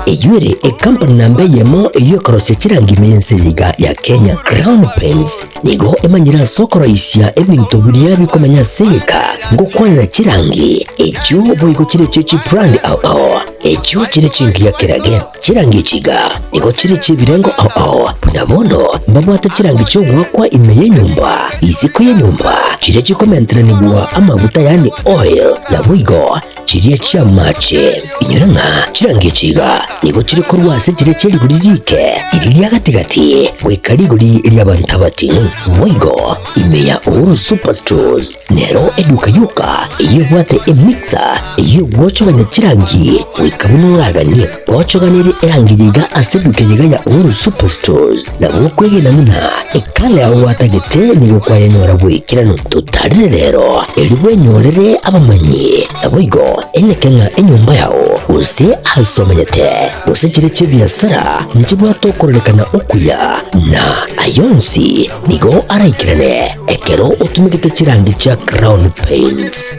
Eyio ere ecompany namba eyemo eyio ekorosia chirangirwe y'ense eye iga ya Kenya. Crown Paints nigo emanyire ase okoroisia ebinto biria bikomenya ase egeka ngokwanera chirangi echio boigo chire echie chibrand ao ao echio chire chingiya kerage. Chirangi echi iga nigo chire chi'ebirengo ao ao buna bono mbabwate chirangi chi'ogoakwa ime y'enyomba, isiko y'enyomba, chiria chikomenteranigwa amaguta yaani oil, naboigo Chiria chi'amache, inyora ng'a chirangecho iga, nigo chire korwa ase chire chia rigori riike eri ria gati-gati goika rigori ri'abanto abatino. Boigo, ime ya Uhuru Superstores nero eduka yoka eyio ebwate emixer ey'ogwochoganya chirangi goika buna oraganie. Gochoganirie erangi yiga ase ebukia yiga ya All Superstars, na gokwegena buna ekala yao gwatagete nigo kwayanyora bw'ekerano totarire rero, erio bwenyorere abamanyi, naboigo enyeke ng'a enyomba yao, gose aase omanyete, gose chiria chi'ebiasara nchibwate okororekana okuya, na ayio onsi nigo araikerane ekero otumegete chirangi chia Crown Paints.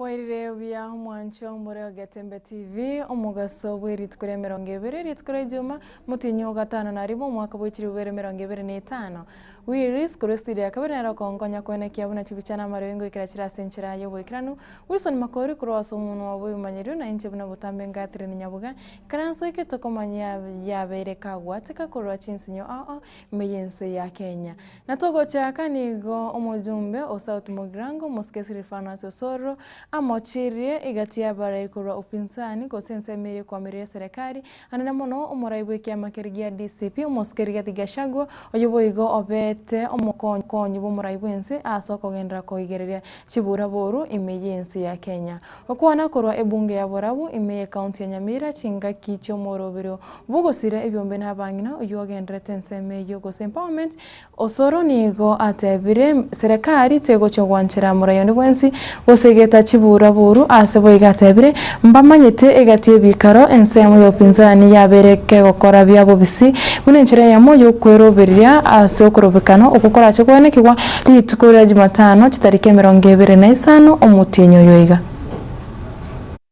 Mwairire buya mwancho more Ogetembe TV omogaso bw'erituko ria emerongo ebere, erituko ria Ijuma, motinyi o gatano na rimo, omwaka bw'echiribubere emerongo ebere na etano. Willis, korwa esitiri ya kabere nere okonkonya koena ekiabo na chibicha na amareo ingoikera chire ase enchera y'oboikeranu. Wilson Makori, korwa ase omonwa obo ebimanyerio na inche buna botambe ngatereri nyaboga, ekero nsoikete okomanya yabeire kagwateka korwa chinsinyo ao ime y'ense ya Kenya. Na togocha aka nigo omojumbe o South Mugirango, omosike Silifanus Osoro, amochirie egati y'abarai korwa upinzani, gose ensemo eria ekwamiria y'eserekari, Anene mono omorai bw'ekiama keria gia DCP, omosike Rigathi Gachagua, oyo boigo obeete omokonyi bw'omorai bw'ense aase okogenderera koigereria chibura boru ime y'ense ya Kenya. Gokwana korwa ebunge ya Borabu, ime y'ekaunti ya Nyamira, chingaki chi'omorobiri bw'ogosira ebiombe n'abang'ina oyio ogendererete ensemo eyio gose empowerment Osoro nigo atebire, Serekari tegochia gwanchera moraioni bwensi, gose egeta chiburaburu, ase boigo atebire, Mbamanyete egati y'ebikaro, ensemo y'obopinzani yabeire kegokora bia bobisi, buna enchera eyemo y'okweroberia ase okorobekana okwo korache goenekigwa rituko ria Jumatano chitariki emerongo ebere na isano omotienyi oyoiga.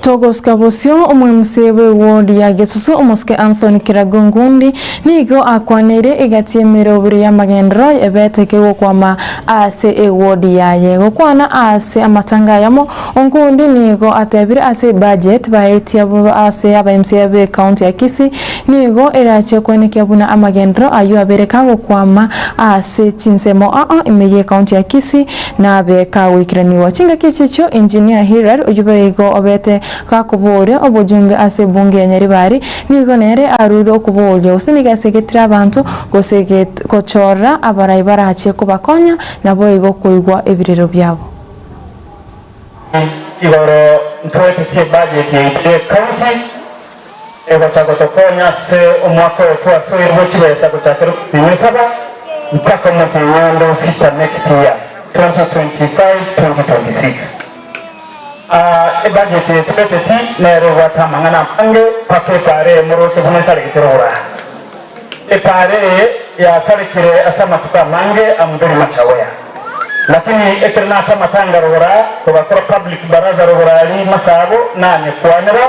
Togosika bosio, omwemusi bw'ewodi ya Gesusu, omosike Anthony Kiragu Ngundi, nigo akwaneire egati y'emerobire y'amagenderero ebete kegokwama ase ewodi yaye. Gokwana ase amatanga ayamo, Ongundi nigo atebire ase ebudget baetia ase abaMCA be county ya Kisii nigo erachie koenekia buna amagenderero ayio abere kagokwama ase chinsemo aa ime ye county ya Kisii Nabeka goikeranigwa chingaki echi echio Engineer Hirar oyio baigo obete gakobooria obojumbe ase ebunge ya Nyaribari nigo nere arure okobooria gose nigo asegetire abanto gose gochorora abarai barache kobakonya naboigo koigwa ebirero biabo. Igoro ntwete chibudget yaito ye county. Ogota gotokonya ase omwaka oyo twasoire bwe chibesa gochakera okotinywa esaba mpaka omotinywa onde o sita next year 2025-2026. Aa ebudget eye tobeteti nero ebwate amang'ana amange mpaka epaara eye moroche buna esarekete rogorano. Epaara eye yasarekire ase amatuko amange a Muthuri Machawea. Lakini ekero nacha amatanga rogora togakora public baraza rogora rimasaabo nanye kwanera,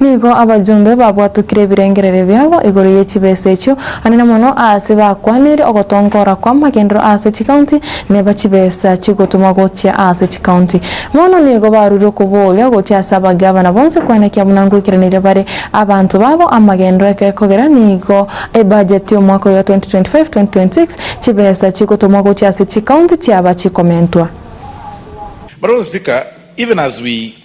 Nigo abajumbe babwatokire ebirengererio biabo igoro ye chibesa echio, hanene mono aase bakwaneire ogotongoora kw'amagenderero aase chikaunti, neba chibesa chigotumwa gochia aase chikaunti. Bono nigo baruire okobooria gochia ase abagavana bonsi kwenekia buna ngoikeraneirie bare abanto babo amagenderero ekekogera nigo ebajeti y'omwaka oyo 2025-2026 chibesa chigotumwa gochia ase chikaunti chiaba chikomentwa. Madam Speaker, even as we.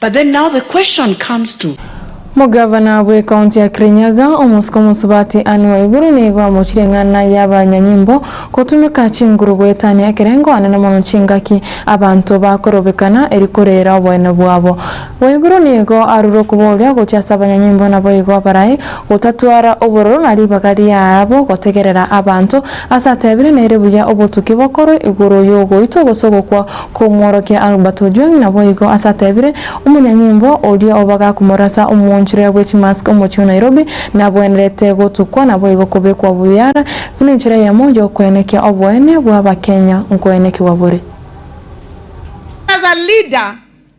But then now the question comes to. Omogavana bwe county ya Kirinyaga, omosike omosubati Ann Waiguru nigo amochire eng'ana ya abanyanyimbo gotumeka chinguru goetania ekerengo ande namono chingaki abanto bakorobekana eri korera oboene bwabo. Waiguru nigo arure okoboria gochia ase abanyanyimbo naboigo barae gotatwara obororo na ribaga riaabo gotegerera abanto ase atebire nere buya obotuki bokorwe igoro yogoitwa gose ogokwa Komworokia Albert Ojwang naboigo ase atebire, Omonyanyimbo oria obaga komorasa omoonchorera bwe chimask omochie o Nairobi nabwenerete gotukwa naboigo kobekwa buyara buna enchera eyemo yokoenekia oboene bw'Abakenya nkoenekigwa bore. As a leader,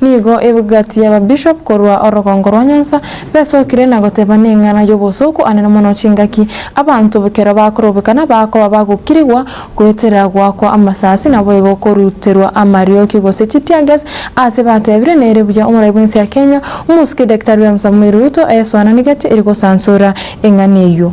Nigo ebgati y'ababishop korwa orogongo rwa Nyanza besokire na goteba neng'ana y'obosooku anene mono chingaki abanto ekero bakorobeka na bakoba bagokirigwa goetera goakwa amasasi naboigo koruterwa amarioki gose chi tear gas ase batebire nere buya omorai bw'ense ya Kenya omosike Daktari William Samoei Ruto ayesoananigetie eri gosansora eng'ana eyio.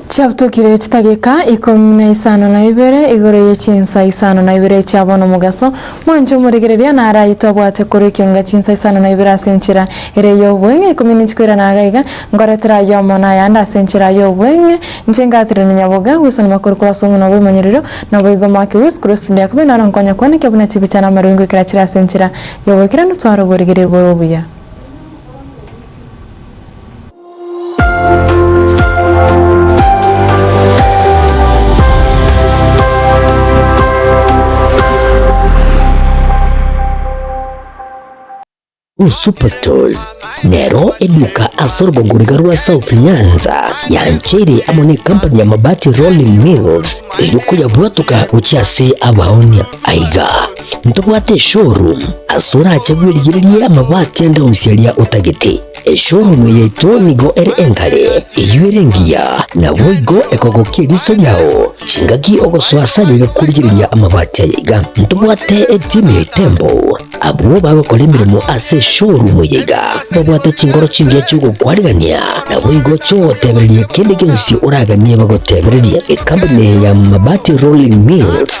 Chiabutokire chitageka ikomi na isano na ibere igoro ye chinsa isano na ibere chia bono omogaso mwancha omoregereria naraito abwate korwa ekionga chinsa isano na ibere ase enchera ere y'oboeng'e ikomi ninchi koirana iga iga ngoretera ayomo na ayande ase enchera aye oboeng'e inche ngatirire nonyaboga gwesonoma korwa korwa ase omona bw'omonyororo na boigo omwake o Yesu Kristo ndiakobe naro nkonya kwane ekia buna chibicha na amarui ngoikera chire ase enchera y'oboikeranu tware oboregereria bore obuya. Superstores nero eduka ase orogogoriga rwa South Nyanza yancheire amo ne company ya Mabati Rolling Mills erio koyabwatoka gochia ase abaonia aiga ntobwate showroom ase orache bwerigererie amabati ande onsiaria otagete Eshooromo yaito nigo ere enkare, eyio ere engiya, naboigo ekogokia eriso riao chingaki ogosoa ase ayaiga kworigereria amabati ayaiga. Ntobwate etimu ya etembo. Abwo bagokora emeremo ase eshooromo yaiga babwate chinkoro chingiya chi'ogokwanigania, naboigo chi'ogotebereria kende gionsi oraganie bagotebererie. Ekambuni ya Mabati Rolling Mills.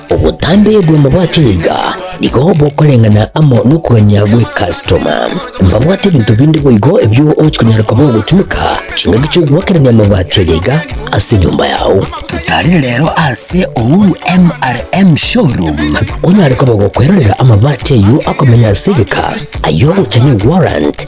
Obotambe bw'amabwato iga nigo bokoreng'ana amo nokogania gwe customer. Mbabwate ebinto binde boigo ebio ogochi konyara koba ogotumeka chingaki chi'ogoakerania amabwato aya iga ase enyomba yao. Totarire rero ase Uhuru MRM Showroom onyare koba gokwerorera amabati ayio akomenya ase egeka, ayio ogocha ne warrant,